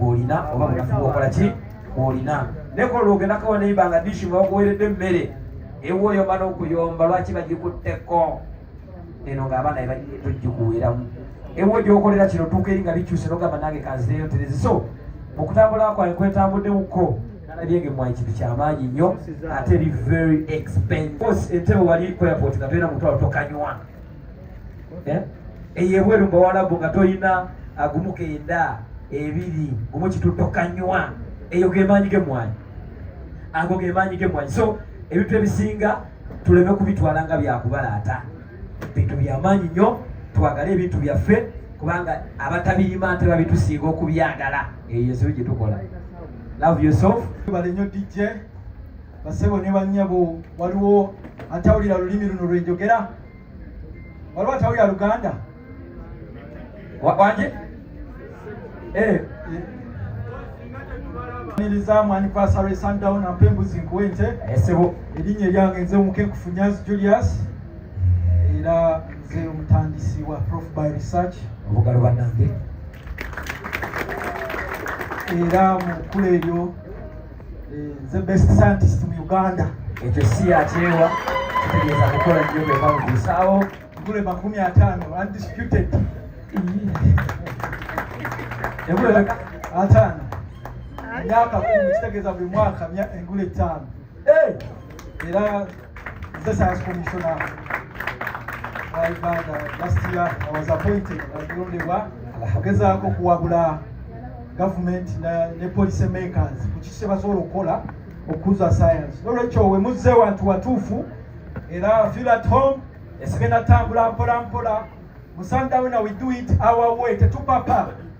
olina oba munafu bwokola ki olina naye kola lwogenda kawa neiba nga dishi nga wakuweredde emmere ewa oyomba n'okuyomba lwaki bagikutteko eno ng'abaana togikuweeramu ewa gyokolera kino tuuka eri nga bikyuse nogamba nange kanzireyo terezi so mukutambula kwange kwetambuddewukko nalabyenge mwayi kintu kyamaanyi nnyo ate eri very expense entebe wali ku airport nga tolina mutwalo tokanywa eh? eyo ebweru mbawalabu nga tolina agumu kenda ebiri gumu kitutokanywa eyo gemaanyi gemwanyi ago gemaanyi gemwanyi so ebintu ebisinga tuleme kubitwala nga byakubalaata bintu byamaanyi nnyo twagale ebintu byaffe kubanga abatabirima nte babitusinga okubyagala eyo yensobi gyetukola love yourself bale nyo dj basebo ne banyabo waliwo atawulira lulimi luno lwenjogera waliwo atawulira luganda wanje eh, niriza mwani kwasa lwe sundown ampe embuzi nkuwe nte esebo eh, erinnya eryange nze omuke nkufunyazi julius era nze omutandisi wa prof by research obugalo banange era mu kkula eryo Eh, the best scientist mu Uganda. Ekyo si yakyewa kitegeeza kukola nnyo bwe bamubuusaawo nkule makumi ataano undisputed engule ataano myaka kumi kitegeeza buli mwaka engule ttaano eh! era Mr. Science Commissioner wa Uganda last year I was appointed nalondebwa agezaako okuwabula gavumenti ne policy makers ku kiki kyebasobola okukola okukuza science nolwekyo wemuzze wantu watuufu era feel at home esigenda tambula mpola mpola musandawe na we do it our way tetupapa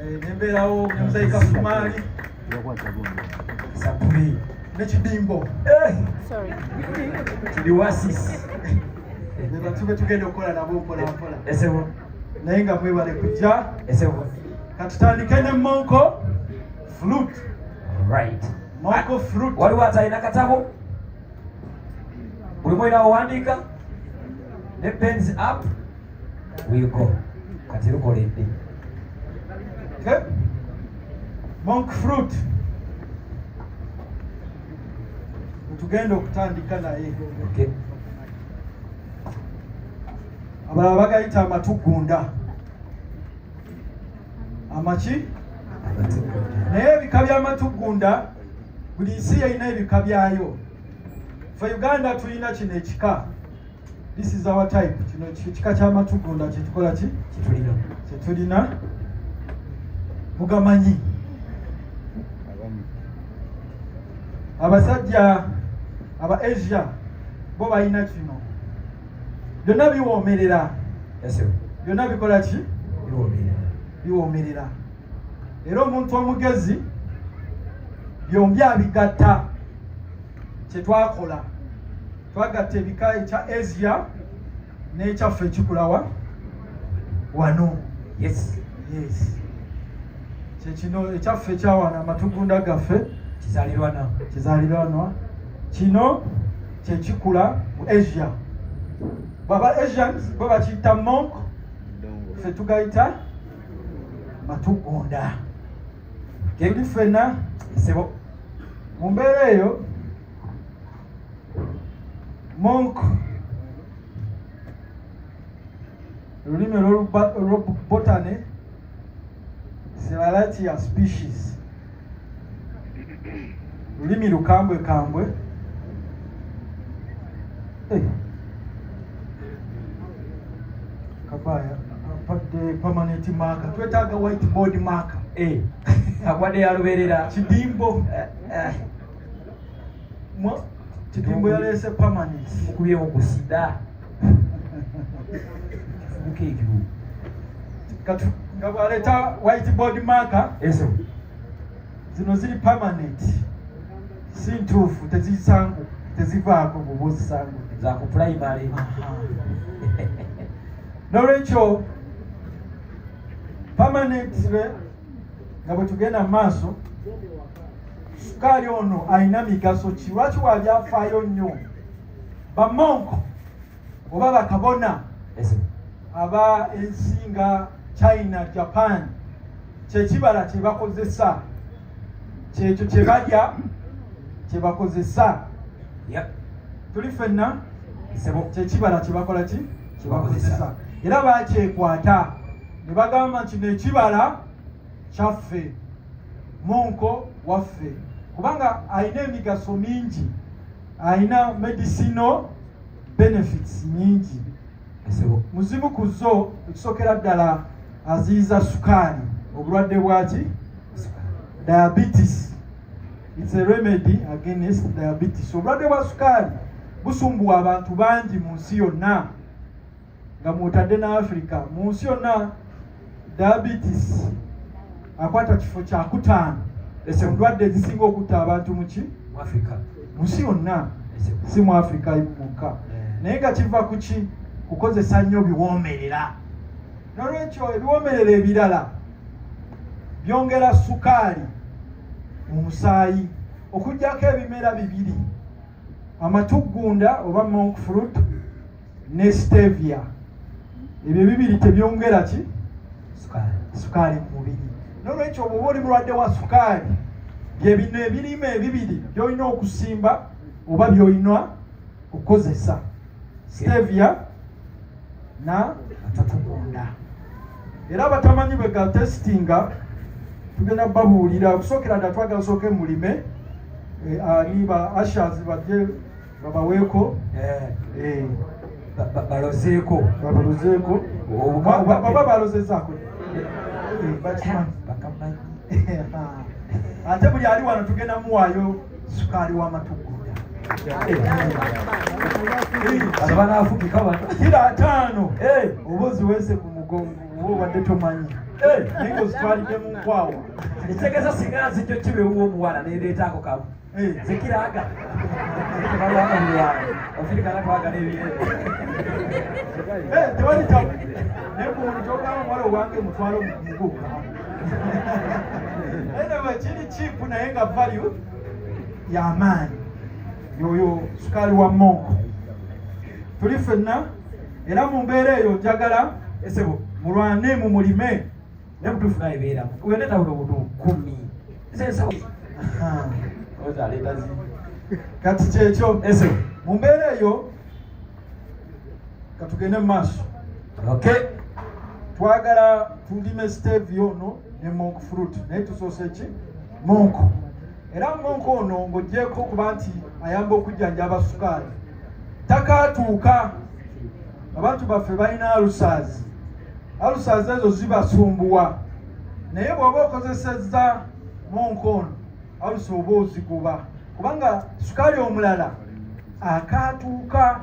eh, nembeerawo nemuzayika sumaali sapuli nekidimbo eh! tuliwasis nebatube tugenda okukola nabo mpolampola naye nga mwebale kujja katutandike ne monko fruit right mwako fruit waliwo atalina katabo buli mwena owandiika ne pens up wiiko kati lukola eddi monk fruit tugenda okutandika naye abalala bagayita amatugunda amaki naye ebika byamatugunda buli nsi yeyina ebika byayo fe uganda tulina kino ekika this is our type kino kika kyamatugunda kyetukola ki kitulina kyetulina mugamanyi abasajja aba asia bo balina kino byonna biwoomerera byonna bikola ki biwoomerera era omuntu omugezi byombi abigatta kyetwakola twagatta ebika ekya asia n'ekyaffe ekikulawa wano yes yes kyekino ekyaffe ekyawana amatugunda gaffe kizalirwana kizalirwanwa kino kyekikula mu asia baba asians bo bakiyita monk ffe tugayita matugunda kebuli ffena esebo mu mbeera eyo monk olulimi olwobotane siralati ya species lulimi lukambwe kambwe eh. kabaya apadde permanent marker twetaaga white board marker eh. akwade yaluberera kidimbo eh, Kidimbo yaleese permanent. Mukubyewo ku sida. Sibuka ekiru. Kati nga bwaleeta whiteboard marker. Eso. Zino ziri permanent. Si ntuufu tezisangu tezivaako bwoba ozisangu. Za ku primary. N'olwekyo permanent nga bwe tugenda mu maaso sukaali ono alina migaso ki lwaki wabyafaayo nnyo bamonko oba bakabona aba ensi nga china japan kyekibala kyebakozesa kyekyo kyebalya kyebakozesa tuli fenna kyekibala kyebakola ki kyebakozesa era bakyekwata ne bagamba nti nekibala kyaffe munko waffe kubanga alina emigaso mingi alina medicinal benefits nyingi muzimu ku zo ekisokera ddala aziyiza sukaali obulwadde bwaki diabetes its a remedy against diabetes obulwadde bwa sukaali busumbuwa abantu bangi mu nsi yonna nga mwotadde ne africa mu nsi yonna diabetes akwata kifo kyakutaano ese ndwadde ezisinga okutta abantu muki mu nsi yonna si mu africa mukka eh. naye nga kiva kuki kukozesa nnyo biwoomerera nolwekyo ebiwoomerera ebirala byongera sukaali mu musaayi okugyako ebimera bibiri amatuggunda oba monk fruit ne stevia ebyo bibiri tebyongera ki sukaali mu mubiri nolwekyo obuba oli mulwadde wa sukaali byebino ebirime ebibiri byolina okusimba oba byolina okukozesa stevia na atatugunda era abatamanyi bwe ga testinga tugenda babuulira okusookera dda twagala sooke mulime eh, ani ba ashas bajje babaweeko eh. eh. balozeeko balozeeko baba balozezaako bakimanyi ate buli ali wano tugenda muwaayo sukaali wa matugunda kira ataano oba oziweese ku mugongo oba obadde tomanyi naye ozitwalidde mu nkwawa ekitegeeza singa nzijjo kibeewo omuwala nereetaako kamu zekiraga ofirikana twagala ebintu tewali tabu naye kumuntu ogamba omuwala owange mutwalo muguka anyway kiri cheap naye nga value yamaanyi yoyo sukaali wa monko tuli fenna era mu mbeera eyo njagala esebo mulwane mu mulime ne butuufu naye beera weneta buno butu kumi kati kyekyo esebo mu mbeera eyo katugende mu maaso okay. twagala tulime stevia ono ne monk fruit naye tusoose ki monk era monk ono ng'ogyeko okuba nti ayamba okujjanjaba sukaali takaatuuka abantu baffe balina alusaazi alusaazi ezo zibasumbuwa naye bw'oba okozesezza monk ono alusa oba ozigoba kubanga sukaali omulala akaatuuka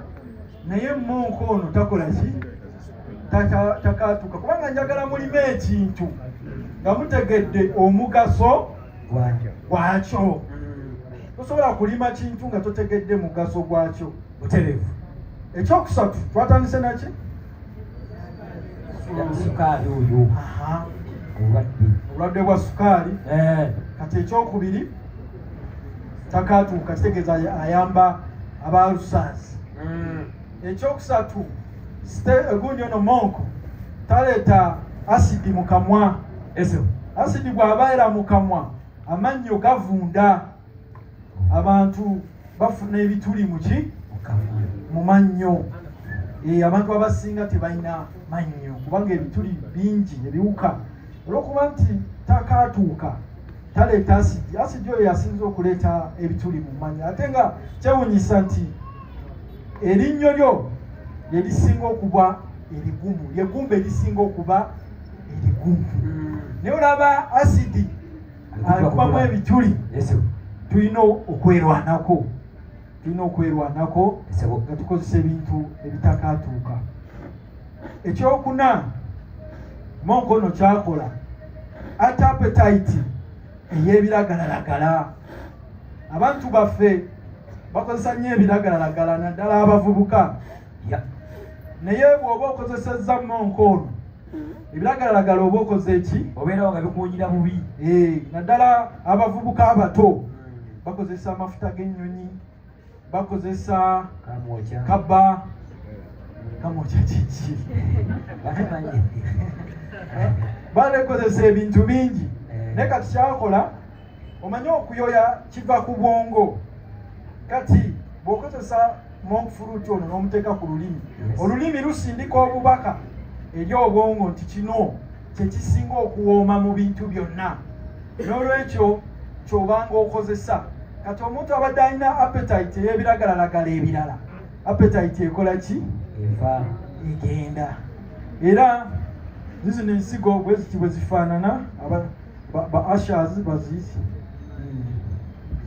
naye monka ono takola ki takaatuuka kubanga njagala mulimu ekintu nga mutegedde omugaso gwakyo tosobola kulima kintu nga totegedde mugaso gwakyo buterevu ekyokusatu twatandise naki sukaali oyo obulwadde obulwadde bwa sukaali eh. kati ekyokubiri takaatuuka kitegeeza ayamba aba lusas hmm. ekyokusatu gundi ono monko taleeta asidi mu kamwa asidi bw'abaera mu kamwa amannyo gavunda abantu bafuna ebituli muki mu mannyo eh, abantu abasinga tebalina mannyo kubanga ebituli bingi ebiwuka olwokuba nti takaatuuka taleeta asidi asidi oyo yasinza okuleeta ebituli mu mannyo ate nga kyewunyisa nti erinnyo lyo lyerisinga okuba erigumu lyegumba erisinga okuba erigumu hmm. naye olaba asidi akubamu ebituli tulina okwerwanako tulina okwerwanako nga tukozesa ebintu ebitakatuuka ekyokuna monkono kyakola ate apetaiti eyebiragalalagala abantu baffe bakozesa nnyo ebiragalalagala naddala abavubuka naye bw'oba okozesezza monkono ebiragalalagala oba okoze eki obeerawo nga bikuwunyira bubi eh, naddala abavubuka abato bakozesa amafuta g'ennyonyi bakozesa kaba kamwokya kiki banekozesa ebintu bingi eh. naye kati kyakola omanyi okuyoya kiva ku bwongo kati bw'okozesa monk fruit ono n'omuteeka ku lulimi olulimi lusindika obubaka eri obwongo nti kino kyekisinga okuwooma mu bintu byonna n'olwekyo kyobanga okozesa kati omuntu abadde alina appetite ey'ebiragalalagala ebirala appetite ekola ki eva egenda era zizino ensigo bweziti bwe zifaanana ba, ba ashers baziise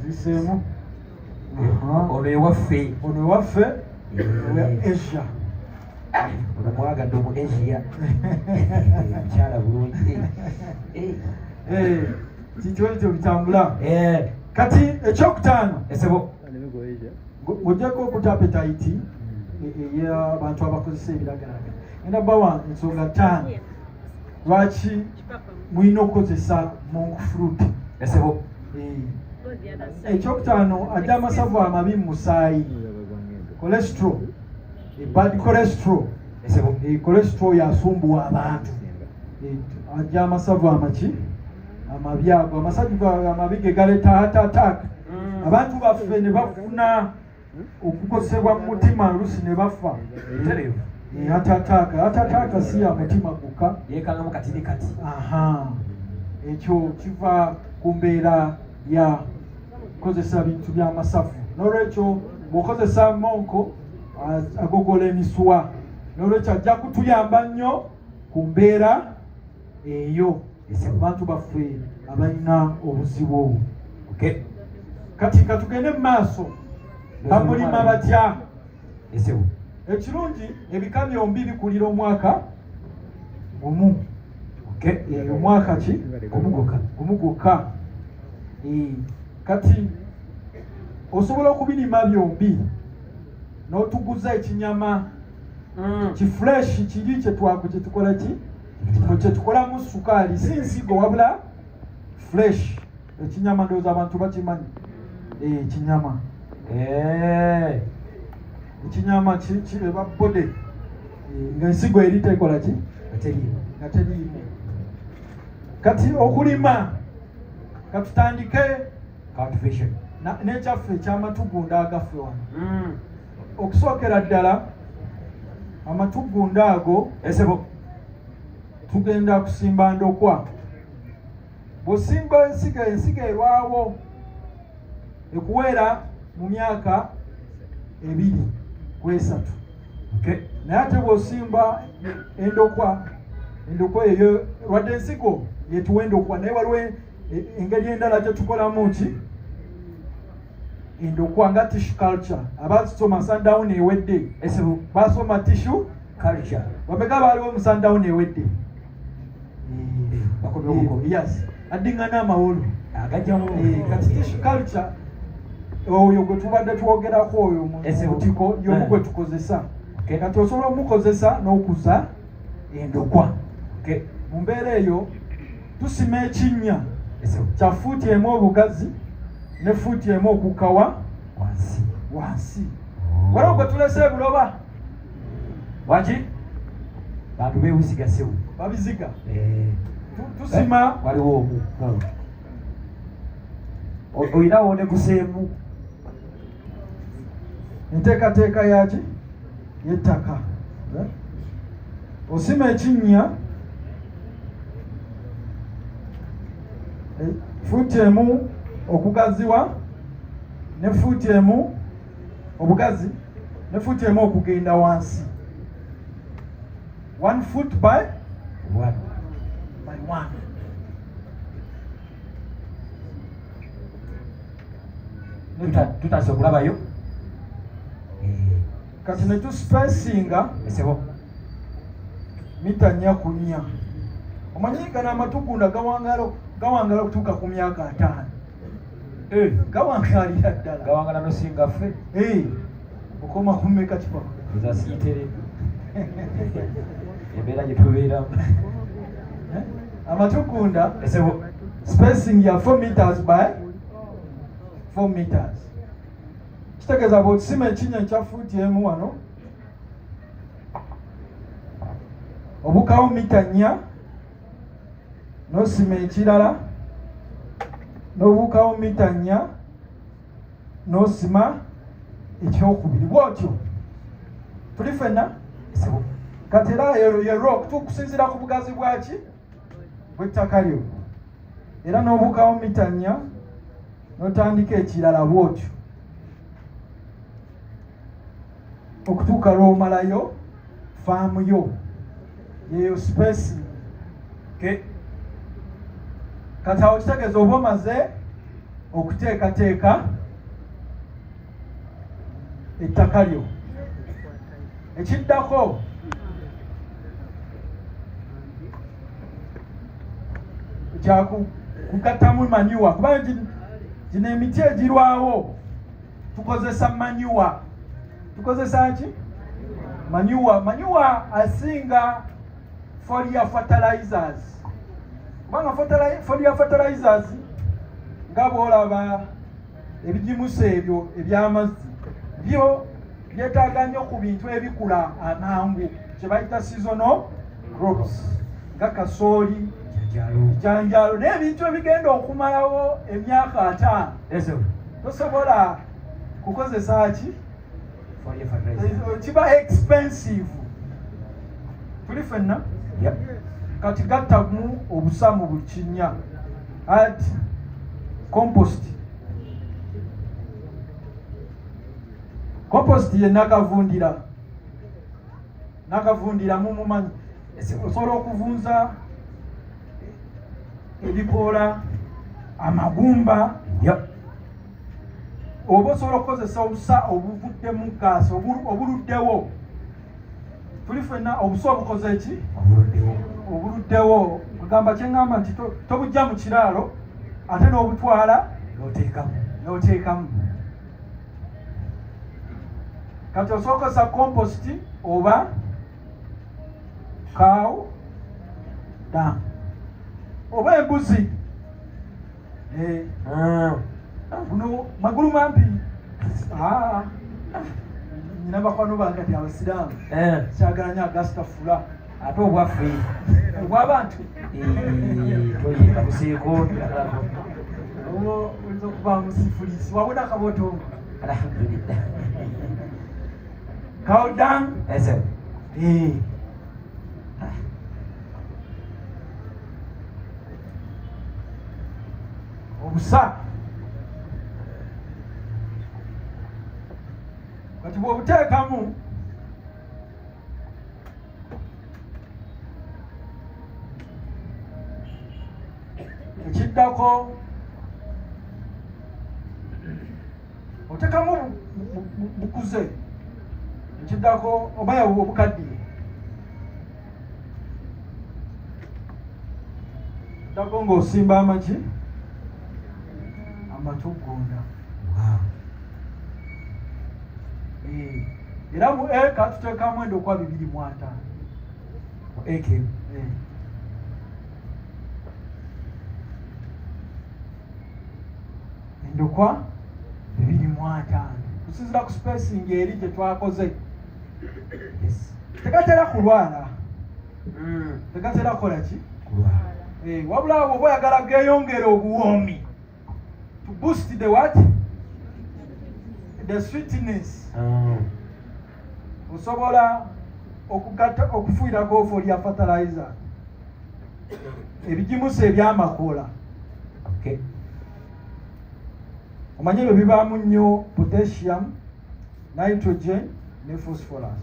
ziseemu ono ewaffe ono ewaffe eh. asia ah, ono mwagadde omu asia mukyala bulungi eh. eh, kikyo ekyo bitambula kati ekyokutaano esebo ojjako okuta apetaiti hmm. eyabantu abakozesa ebiragalaga enda bawa ensonga taano lwaki mulina okukozesa monk fruit esebo eh, ekyokutaano ajja amasavu amabi mu musaayi cholesterol ebad eh, cholesterol esebo eh, cholesterol yasumbuwa abantu ajja amasavu amaki amabi ago amasavu amabi ge galeeta heart attack mm. abantu baffe ne bafuna okukosebwa mu mutima olusi ne bafa eterevu atataaka atataaka si ya mutima gukka yekangamu kati ne kati aha ekyo kiva ku mbeera ya kozesa bintu byamasavu nolwekyo bwokozesa monko agogola emisuwa nolwekyo ajja kutuyamba nnyo ku mbeera eyo ese abantu baffe abalina obuzibu obwo okay. kati katugende mu maaso bamulima batya esewo ekirungi ebika byombi bikulira omwaka omu okay. e, omwaka ki omu gwokka e, kati osobola okubirima byombi n'otuguza ekinyama mm. kifureshi kiri kyetwaku kyetukola ki nti mwe kyetukolamu sukaali si nsigo wabula fresh ekinyama ndowooza abantu bakimanyi eh, ekinyama eh, ekinyama kireba bode eh, nga ensigo eri tekola ki nga teriimu kati okulima katutandike nekyaffe ekyamatugunda agaffe wano hmm. okusookera ddala amatuggunda ago esebo tugenda kusimba ndokwa bw'osimba ensiga ensiga erwawo ekuweera mu myaka ebiri ku esatu naye ate bw'osimba endokwa endokwa eyo lwadde ensigo yetuwa endokwa naye waliwo e, engeri endala gyetukolamu ki endokwa nga tissue culture abasoma sundown ewedde esebo basoma tissue culture bameka baaliwo mu sundown ewedde eh, yes addingana amawolu agajjamu eh, kati tissue culture oyo gwe tubadde twogerako oyo mutiko yomu eh. gwe tukozesa kati osobola omukozesa n'okuza endokwa mu mbeera eyo tusima ekinnya kya fuuti emu obugazi ne fuuti emu okukawa wansi wansi oh. waliwo gwe tulese ebuloba waki bantu bewusigasewu babiziga eh. tusima eh, waliwo omu olinawo ne kuseemu enteekateeka yaki yettaka eh? osima ekinnya eh, fuuti emu okugaziwa ne fuuti emu obugazi ne fuuti emu okugenda wansi one foot by one by one tutase okulabayo eh. kati netusipesinga esebo mita nya ku nya omanyi gano amatugunda gawangalo gawangala okutuuka ku myaka ataano eh. gawangalira ddala gawangala nosinga ffe eh. okoma kumeka kipa nza siyitere embeera gye tubeeramu eh? amatugunda spacing ya 4 meters by 4 meters kitegeeza bwokisima ekinya ekya fuuti emu wano obukawo mita nnya nosima ekirala nobuukawo mita nnya nosima ekyokubiri bwotyo tuli fenna kati era yerok tukusinzira ku bugazi bwaki bwettaka lyo era nobukawo mita nnya notandika ekirala bwotyo okutuuka lw'omalayo faamu yo yeyo space ke kati awo kitegeeza oba omaze okuteekateeka ettaka lyo ekiddako kyakugattamu manyuwa kuba gino emiti egirwawo tukozesa manyuwa tukozesa ki manyuwa manyuwa asinga folia fertilizers kubanga folia fertilizers nga bwolaba ebigimusa ebyo ebyamazzi byo byetaaga nnyo ku bintu ebikula amangu kye bayita seasonal crops nga kasooli janjalo n'ebintu ebigenda okumalawo emyaka ataano tosobola kukozesa ki kiba expensive tuli fenna kati gattamu obusa mu buli kinnya ad compost compost ye nakavundira nakavundira mumumanyi osobola okuvunza ebikoola amagumba oba osobola okukozesa obusa obuvudde mu gaasi obuluddewo tuli fenna obusa obukoze eki obuluddewo ogamba kyeŋamba nti tobujja mu kiraalo ate n'obutwala n'oteekamu kati osookozesa kompositi oba cow dam oba embuzi eh. ah. guno magulu mampi ah. nyina bakwano bange ti abasiraamu eh. kyagala nyo agasita fula ate obwaffe obwabantu toyinda buseeko oyinza okuba musifulisi wabona akabootongo alhamdulillah How done? I said, hey. obusa kati bw'obuteekamu ekiddako otekamu bukuze ekiddako obaya obukaddiye dako ng'osimba amaki amatugonda wow. Eh. era mu eka tuteekamu endokwa bibiri mu ataano mu eka emu eh. endokwa bibiri mu ataano kusinzira ku spacing eri gye twakoze tegatera kulwala hmm. tegatera kukola ki eh, wabula awo oba oyagala geeyongere obuwoomi to boost the what the sweetness ah. osobola okugatta okufuirako ofo lya fertilizer ebigimusa ebyamakoola omanyi ebyo bibaamu nnyo potassium nitrogen ne phosphorus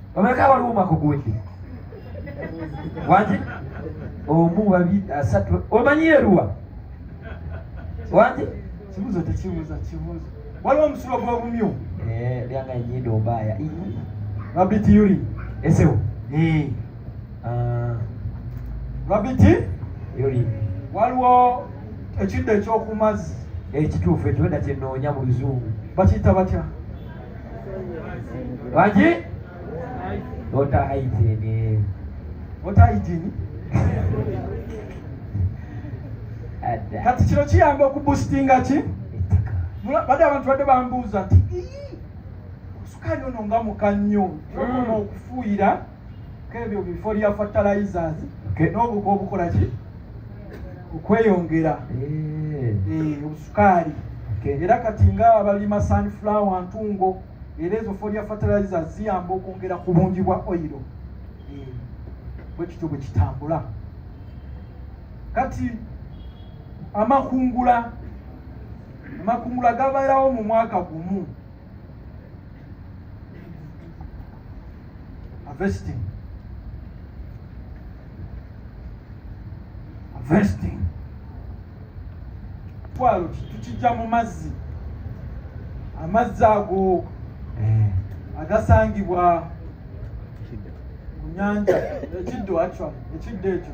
omeka waliwo omwaka oguwedde wangi omu babiri asatu omanyi eruwa wangi kibuzo tekibuza kibuzo waliwo omusulo gwobumyu eh, byanga enyindo ombaya rabiti yuri esewo eh. ah. rabiti yuri waliwo ekiddo ekyokumazzi ekituufu ekibeda kyenoonya mu luzungu bakiyita batya Waji? Water hygiene. Water hygiene. Kati kino kiyamba okubusitinga ki? Bade abantu bade bambuuza nti sukaali ono nga muka nnyo okuma mm. okufuuyira kebyo bifo lya fertilizers n'obuko obukola ki okweyongera eh. Eh, obusukaali era kati nga abalima sunflower ntungo era ezo folia fertilizer ziyamba okwongera ku bungi bwa oyiro eh, bwe kityo bwe kitambula kati amakungula amakungula gabeerawo mu mwaka gumu harvesting harvesting twalo tukijja mu mazzi amazzi ago eh. agasangibwa ku nyanja ekiddo actually ekiddo ekyo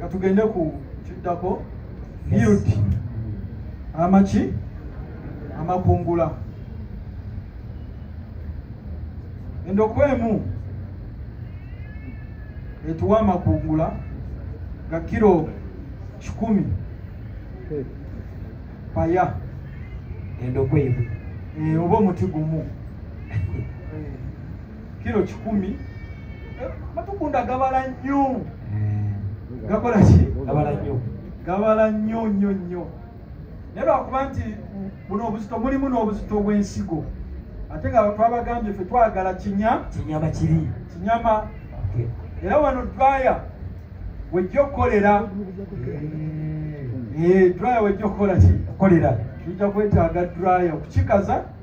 katugende ku kiddako field amaki amakungula endokwa emu etuwa amakungula ga kiro kikumi paya endokwa emu eh, oba omuti gumu kilo kikumi eh, matugunda gabala nnyo hmm. gakola ki gabala nnyo gabala nnyo nnyo nnyo naye lwakuba nti buno obuzito mulimu n'obuzito bw'ensigo ate nga twabagambye fe twagala kinya kinyama kiri kinyama era wano draya wejja okukolera eh, draya wejja okukola ki okolera tujja kwetaaga draya okukikaza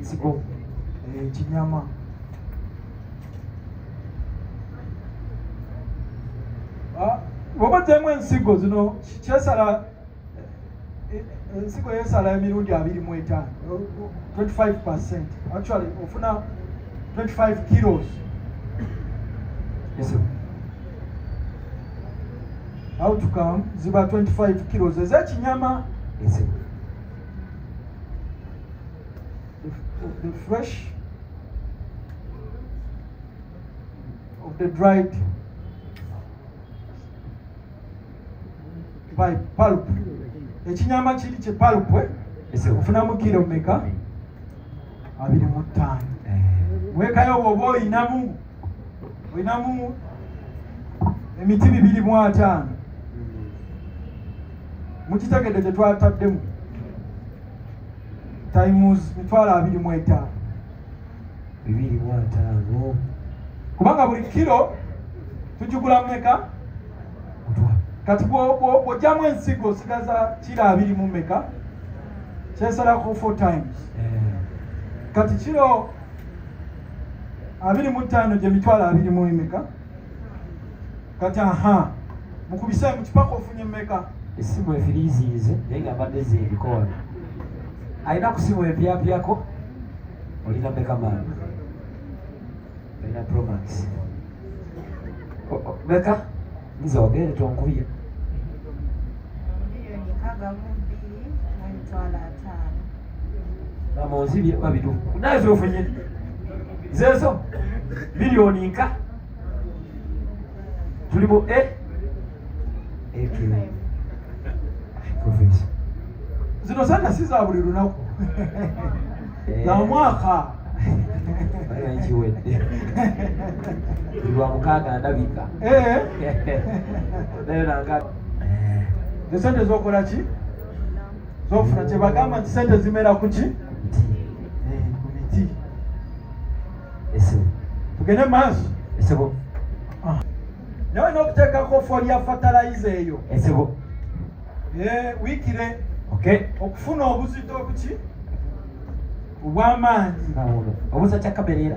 nzigo ekinyama eh, bwoba ogyemu ensigo zino kyesala eh, ensigo yesala emirundi abiri mu etaano 25 percent actually ofuna 25 kilos outcome ziba 25 kilos ezekinyama the, of the fresh, of the dried by pulp. Ekinyama kiri kye pulp eh? Ese ofunamu kilo meka abiri mu ttaano. Eh. Wekayo bw'oba olinamu olinamu emiti bibiri mu ataano. Mukitegedde gye twataddemu. times mitwalo abiri mu etaano bibiri mu ataano kubanga buli kiro tugigula mumeka kati bwojjamu ensigo osigaza kiro abiri mu meka kyesalako four times eh. kati kiro abiri mu ttaano gye mitwalo abiri mu emeka kati aha mukubise mu kipaka ofunye mmeka essimu efiriiziize naye nga mbadde zeebikoona alina ku simu empyapyako olina mmeka maama olina promax meka nze ogende tonkubye amonzi byekuba bitufu naye zofunye zezo miliyoni nka tuli mu e zino sana si za buli lunaku eh. za mwaka kiwedde lwa mukaaga ndabika eh. naye nanga eh. esente zokola ki zofuna kyebagamba nti sente zimera kuki eh, ku miti tugende maaso ah. nawe nokuteekako folya fatalayiza eyo wikire okufuna obuzito obuki obwamaanyi obuza kyakabereera